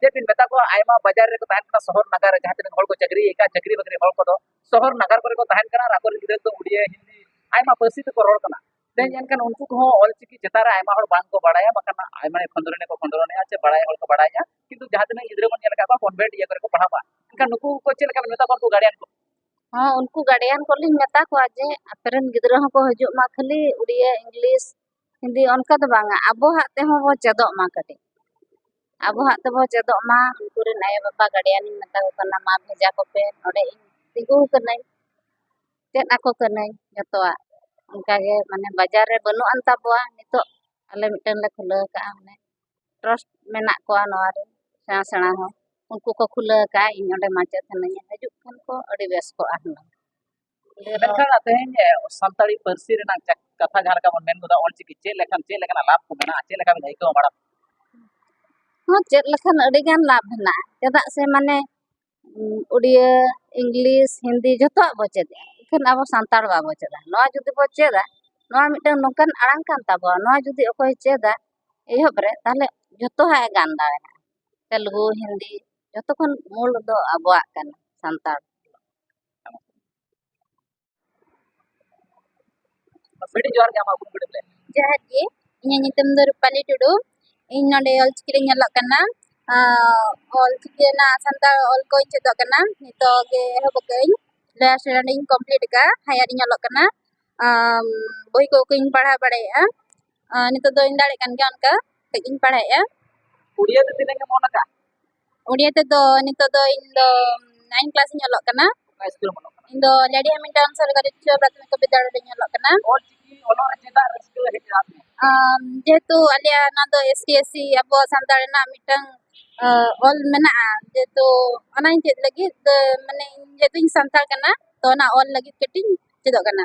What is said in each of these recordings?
ᱪᱮᱫ ᱵᱤᱱ ᱢᱮᱛᱟ ᱠᱚᱣᱟ ᱟᱭᱢᱟ ᱵᱟᱡᱟᱨ ᱨᱮᱠᱚ ᱛᱟᱦᱮᱱ ᱠᱟᱱᱟ ᱥᱚᱦᱚᱨ ᱱᱟᱜᱟᱨ ᱨᱮ ᱡᱟᱦᱟᱸ ᱛᱤᱱᱟᱹᱜ ᱦᱚᱲ ᱠᱚ ᱪᱟᱹᱠᱨᱤᱭᱮᱫᱟ ᱪᱟᱹᱠᱨᱤ ᱵᱟᱹᱠᱨᱤ ᱦᱚᱲ ᱠᱚᱫᱚ ᱥᱚᱦᱚᱨ ᱱᱟᱜᱟᱨ ᱠᱚᱨᱮ ᱠᱚ ᱛᱟᱦᱮᱱ ᱠᱟᱱᱟ ᱟᱨ ᱟᱠᱚᱨᱮᱱ ᱜᱤᱫᱽᱨᱟᱹ ᱫᱚ ᱩᱲᱤᱭᱟ ᱦᱤᱱᱫᱤ ᱟᱭᱢᱟ ᱯᱟᱹᱨᱥᱤ ᱛᱮᱠᱚ ᱨᱚᱲ ᱠᱟᱱᱟ ᱛᱮᱦᱮᱧ ᱮᱱᱠᱷᱟᱱ ᱩᱱᱠᱩ ᱠᱚᱦᱚᱸ ᱚᱞᱪᱤᱠᱤ ᱪᱮᱛᱟᱱ ᱨᱮ ᱟᱭᱢᱟ ᱦᱚᱲ ᱵᱟᱝ ᱠᱚ ᱵᱟᱲᱟᱭᱟ ᱵᱟᱠᱷᱟᱱ ᱟᱭᱢᱟ ᱠᱷᱚᱸᱫᱽᱨᱚᱱᱮ ᱠᱚ ᱠᱷᱚᱸᱫᱽᱨᱚᱱᱮᱜᱼᱟ ᱥᱮ ᱵᱟᱲᱟᱭ ᱦᱚᱲ ᱠᱚ ᱵᱟᱲᱟᱭᱟ ᱠᱤᱱᱛᱩ ᱡᱟᱦᱟᱸ ᱛᱤᱱᱟᱹᱜ ᱜᱤᱫᱽᱨᱟᱹ ᱵᱚᱱ ᱧᱮᱞ ᱟᱠᱟᱫ ᱠᱚᱣᱟ ᱠᱚᱱᱵᱷᱮᱱᱴ ᱤᱭᱟᱹ ᱠᱚᱨᱮ ᱠᱚ ᱯᱟᱲᱦᱟᱜ ᱠᱟᱱᱟ ᱮᱱᱠᱷᱟᱱ ᱱᱩᱠᱩ ᱠᱚ ᱪᱮᱫ ᱞᱮᱠᱟ ᱵᱮᱱ ᱢᱮᱛᱟ ᱠᱚᱣᱟ ᱩᱱᱠᱩ ᱜᱟᱨᱰᱤᱭᱟᱱ ᱠᱚ ᱦᱚᱸ ᱩᱱᱠᱩ ᱜᱟᱨᱰᱤᱭᱟᱱ ᱠᱚᱞᱤᱧ ᱢᱮᱛᱟ ᱠᱚᱣᱟ ᱡᱮ ᱟᱯᱮᱨᱮᱱ ᱜᱤᱫᱽᱨᱟᱹ ᱦᱚᱸᱠᱚ ᱦᱤᱡᱩᱜ ᱢᱟ ᱠᱷᱟᱹᱞᱤ ᱩᱲᱤᱭᱟ ᱤᱝᱞᱤᱥ ᱦᱤᱱᱫᱤ ᱚᱱᱠᱟ ᱫᱚ ᱵᱟᱝᱟ ᱟᱵᱚᱣᱟᱜ ᱛᱮᱦᱚᱸ ᱵᱚᱱ ᱪᱮᱫᱚᱜ ᱢᱟ ᱠᱟᱹᱴᱤᱡ ᱟᱵᱚᱣᱟᱜ ᱛᱮᱵᱚᱱ ᱪᱮᱫᱚᱜ ᱢᱟ ᱩᱱᱠᱩ ᱨᱮᱱ ᱟᱭᱳᱼᱵᱟᱵᱟ ᱜᱟᱨᱡᱮᱱ ᱤᱧ ᱢᱮᱛᱟ ᱠᱚ ᱠᱟᱱᱟ ᱢᱟ ᱵᱷᱮᱡᱟ ᱠᱚᱯᱮ ᱱᱚᱰᱮ ᱤᱧ ᱛᱤᱸᱜᱩ ᱟᱠᱟᱱᱟᱹᱧ ᱪᱮᱫ ᱟᱠᱚ ᱠᱟᱹᱱᱟᱹᱧ ᱡᱚᱛᱚᱣᱟᱜ ᱚᱱᱠᱟ ᱜᱮ ᱢᱟᱱᱮ ᱵᱟᱡᱟᱨ ᱨᱮ ᱵᱟᱹᱱᱩᱜ ᱟᱱ ᱛᱟᱵᱚᱣᱟ ᱱᱤᱛᱚᱜ ᱟᱞᱮ ᱢᱤᱫᱴᱮᱱ ᱞᱮ ᱠᱷᱩᱞᱟᱹᱣ ᱟᱠᱟᱫᱼᱟ ᱢᱟᱱᱮ ᱴᱨᱟᱥᱴ ᱢᱮᱱᱟᱜ ᱠᱚᱣᱟ ᱱᱚᱣᱟ ᱨᱮ ᱥᱮᱬᱟ ᱥᱮᱬᱟ ᱦᱚᱲ ᱩᱱᱠᱩ ᱠᱚ ᱠᱷᱩᱞᱟᱹᱣ ᱟᱠᱟᱫᱼᱟ ᱤᱧ ᱚᱸᱰᱮ ᱢᱟᱪᱮᱫ ᱦᱤᱱᱟᱹᱧᱟ ᱦᱤᱡᱩᱜ ᱠᱷᱟᱱ ᱠᱚ ᱟᱹᱰᱤ ᱵᱮᱥ ᱠᱚᱜᱼᱟ ᱦᱩᱱᱟᱹᱝ ᱢᱮᱱᱠᱷᱟᱱ ᱛᱮᱦᱮᱧ ᱥᱟᱱᱛᱟᱲᱤ ᱯᱟᱹᱨᱥᱤ ᱨᱮᱱᱟᱜ ᱠᱟᱛᱷᱟ ᱡᱟᱦᱟᱸ ᱞᱮᱠᱟ ᱵᱚᱱ ᱢᱮᱱ ᱜᱚᱫᱟ ᱚᱞᱪᱤᱠᱤ ᱪᱮᱫ ᱞᱮᱠᱷᱟᱱ ᱪᱮᱫ ᱞᱮᱠᱟᱱᱟᱜ ᱞᱟᱵᱷ ᱠᱚ ᱢᱮᱱᱟᱜᱼᱟ ᱪᱮᱫ ᱞᱮᱠᱟ ᱵᱤᱱ ᱟᱹᱭᱠᱟᱹᱣ ᱵᱟᱲᱟ ᱦᱚᱸ ᱪᱮᱫ ᱞᱮᱠᱷᱟᱱ ᱟᱹᱰᱤ ᱜᱟᱱ ᱞᱟᱵᱷ ᱢᱮᱱᱟᱜᱼᱟ ᱪᱮᱫᱟᱜ ᱥᱮ ᱢᱟᱱᱮ ᱩᱲᱤᱭᱟᱹ ᱤᱝᱞᱤᱥ ᱦᱤᱱᱫᱤ ᱡᱚᱛᱚᱣᱟᱜ ᱵᱚ ᱪᱮᱫᱟ ᱮᱱᱠᱷᱟᱱ ᱟᱵᱚ ᱥᱟᱱᱛᱟᱲ ᱵᱟᱵᱚ ᱪᱮᱫᱟ ᱱᱚᱣᱟ ᱡᱩᱫᱤ ᱵᱚ ᱪᱮᱫᱟ ᱱᱚᱣᱟ ᱢᱤᱫᱴᱟᱝ ᱱᱚᱝᱠᱟᱱ ᱟᱲᱟᱝ ᱠᱟᱱ ᱛᱟᱵᱚᱣᱟ ᱱᱚᱣᱟ ᱡᱩᱫᱤ ᱚᱠᱚᱭ ᱪᱮᱫᱟ ᱮᱦᱚᱵ ᱨᱮ ᱛᱟᱦᱚᱞᱮ ᱡᱚᱛᱚᱣᱟᱜ ᱮ ᱜᱟᱱ ᱫᱟᱲᱮᱭᱟᱜᱼᱟ ᱛᱮᱞᱜᱩ ᱦᱤᱱᱫᱤ ᱡᱚᱛᱚ ᱠᱷᱚᱱ ᱢᱩᱞ ᱫᱚ ᱟᱵᱚᱣᱟᱜ ᱠᱟᱱᱟ ᱥᱟᱱᱛᱟᱲ ᱟᱹᱰᱤ ᱡᱚᱦᱟᱨ ᱜᱮ ᱟᱢᱟᱜ ᱩᱯᱨᱩᱢ ᱞᱟᱹᱭ ᱡᱚᱦᱟᱨ ᱜᱮ ᱤᱧᱟᱹᱜ ᱧᱩᱛᱩᱢ ᱫᱚ ᱨᱩᱯᱟᱞᱤ ᱴᱩᱰᱩ ᱤᱧ ᱱᱚᱰᱮ ᱚᱞᱪᱤᱠᱤ ᱨᱮᱧ ᱚᱞᱚᱜ ᱠᱟᱱᱟ ᱚᱞᱪᱤᱠᱤ ᱨᱮᱱᱟᱜ ᱥᱟᱱᱛᱟᱲ ᱚᱞ ᱠᱚᱧ ᱪᱮᱫᱚᱜ ᱠᱟᱱᱟ ᱱᱤᱛᱚᱜ ᱜᱮ ᱮᱦᱚᱵ ᱟᱠᱟᱫᱟᱹᱧ ᱞᱳᱭᱟᱨ ᱥᱴᱮᱱᱰᱟᱨᱰ ᱤᱧ ᱠᱚᱢᱯᱞᱤᱴ ᱟᱠᱟᱫᱼᱟ ᱦᱟᱭᱟᱨ ᱤᱧ ᱚᱞᱚᱜ ᱠᱟᱱᱟ ᱵᱳᱭ ᱠᱚᱧ ᱯᱟᱲᱦᱟᱣ ᱵᱟᱲᱟᱭᱮᱫᱼᱟ ᱱᱤᱛᱚᱜ ᱫᱚᱧ ᱫᱟᱲᱮᱭᱟᱜ ᱠᱟᱱ ᱜᱮᱭᱟ ᱚᱱᱠᱟ ᱠᱟᱹᱡ ᱤᱧ ᱯᱟᱲᱦᱟᱣᱮᱫᱼᱟ ᱩᱲᱤᱭᱟ ᱫᱚ ᱛᱤᱱᱟᱹᱜ ᱮᱢ ᱚᱞ ᱟᱠᱟᱫᱼᱟ ᱩᱲᱤᱭᱟ ᱛᱮᱫᱚ ᱱᱤᱛᱚᱜ ᱫᱚ ᱤᱧ ᱫᱚ ᱱᱟᱭᱤᱱ ᱠᱞᱟᱥ ᱤᱧ ᱚᱞᱚᱜ ᱠᱟᱱᱟ ᱤᱧ ᱫᱚ ᱞᱮᱰᱤ ᱦᱮᱢᱤᱞᱴᱚᱱ ᱥᱚᱨᱠᱟᱨᱤ ᱩᱪᱪᱚ ᱯᱨᱟᱛᱷᱚᱢᱤᱠ ᱵᱤᱫᱽᱫᱟᱞᱚᱭ ᱨᱮᱧ ᱚᱞᱚᱜ ᱠᱟᱱᱟ ᱡᱮᱦᱮᱛᱩ ᱟᱞᱮᱭᱟᱜ ᱚᱱᱟ ᱫᱚ ᱮᱥ ᱴᱤ ᱮᱥ ᱥᱤ ᱟᱵᱚ ᱥᱟᱱᱛᱟᱲ ᱨᱮᱱᱟᱜ ᱢᱤᱫᱴᱟᱝ ᱚᱞ ᱢᱮᱱᱟᱜᱼᱟ ᱡᱮᱦᱮᱛᱩ ᱚᱱᱟᱧ ᱪᱮᱫ ᱞᱟᱹᱜᱤᱫ ᱢᱟᱱᱮ ᱡᱮᱦᱮᱛᱩᱧ ᱥᱟᱱᱛᱟᱲ ᱠᱟᱱᱟ ᱛᱚ ᱚᱱᱟ ᱚᱞ ᱞᱟᱹᱜᱤᱫ ᱠᱟᱹᱴᱤᱡ ᱤᱧ ᱪᱮᱫᱚᱜ ᱠᱟᱱᱟ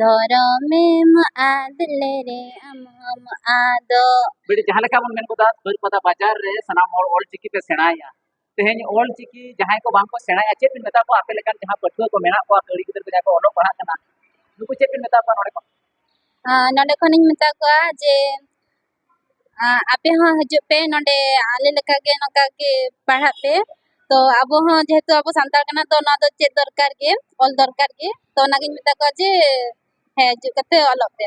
ᱫᱷᱚᱨᱚᱢᱮᱢ ᱟᱫ ᱞᱮᱨᱮ ᱟᱢ ᱦᱚᱢ ᱟᱫᱚᱜ ᱵᱮᱴᱤ ᱡᱟᱦᱟᱸ ᱞᱮᱠᱟ ᱵᱚᱱ ᱢᱮᱱ ᱜᱚᱫᱟ ᱵᱟᱹᱨᱯᱟᱫᱟ ᱵᱟᱡᱟᱨ ᱨᱮ ᱥᱟᱱᱟᱢ ᱦᱚᱲ ᱚᱞ ᱪᱤᱠᱤ ᱯᱮ ᱥᱮᱬᱟᱭᱟ ᱛᱮᱦᱮᱧ ᱚᱞ ᱪᱤᱠᱤ ᱡᱟᱦᱟᱸᱭ ᱠᱚ ᱵᱟᱝ ᱠᱚ ᱥᱮᱬᱟᱭᱟ ᱪᱮᱫ ᱵᱤᱱ ᱢᱮᱛᱟ ᱠᱚᱣᱟ ᱟᱯᱮ ᱞᱮᱠᱟᱱ ᱡᱟᱦᱟᱸ ᱯᱟᱹᱴᱷᱩᱣᱟᱹ ᱠᱚ ᱢᱮᱱᱟᱜ ᱠᱚᱣᱟ ᱠᱟᱹᱲᱤ ᱜᱤᱫᱽᱨᱟᱹ ᱠᱚ ᱡᱟᱦᱟᱸᱭ ᱠᱚ ᱚᱞᱚᱜ ᱯᱟᱲᱦᱟᱜ ᱠᱟᱱᱟ ᱱᱩᱠᱩ ᱪᱮᱫ ᱵᱤᱱ ᱢᱮᱛᱟ ᱠᱚᱣᱟ ᱱᱚᱰᱮ ᱠᱷᱚᱱ ᱱᱚᱰᱮ ᱠᱷᱚᱱᱤᱧ ᱢᱮᱛᱟ ᱠᱚᱣᱟ ᱡᱮ ᱟᱯᱮ ᱦᱚᱸ ᱦᱤᱡᱩᱜ ᱯᱮ ᱱᱚᱰᱮ ᱟᱞᱮ ᱞᱮᱠᱟ ᱜᱮ ᱱᱚᱝᱠᱟ ᱜᱮ ᱯᱟᱲᱦᱟᱜ ᱯᱮ ᱛᱚ ᱟᱵᱚ ᱦᱚᱸ ᱡᱮᱦᱮᱛᱩ ᱟᱵᱚ ᱥᱟᱱᱛᱟᱲ ᱠᱟᱱᱟ ᱛᱚ ᱱᱚᱣᱟ ᱫᱚ ᱪᱮᱫ ᱫᱚᱨᱠᱟᱨ ᱜᱮ ᱚᱞ ᱫᱚᱨᱠᱟᱨ ᱜᱮ ᱛᱚ ᱚᱱᱟᱜᱤᱧ ᱢᱮᱛᱟ ᱠᱚᱣᱟ ᱡᱮ ᱦᱮᱸ ᱦᱤᱡᱩᱜ ᱠᱟᱛᱮ ᱚᱞᱚᱜ ᱯᱮ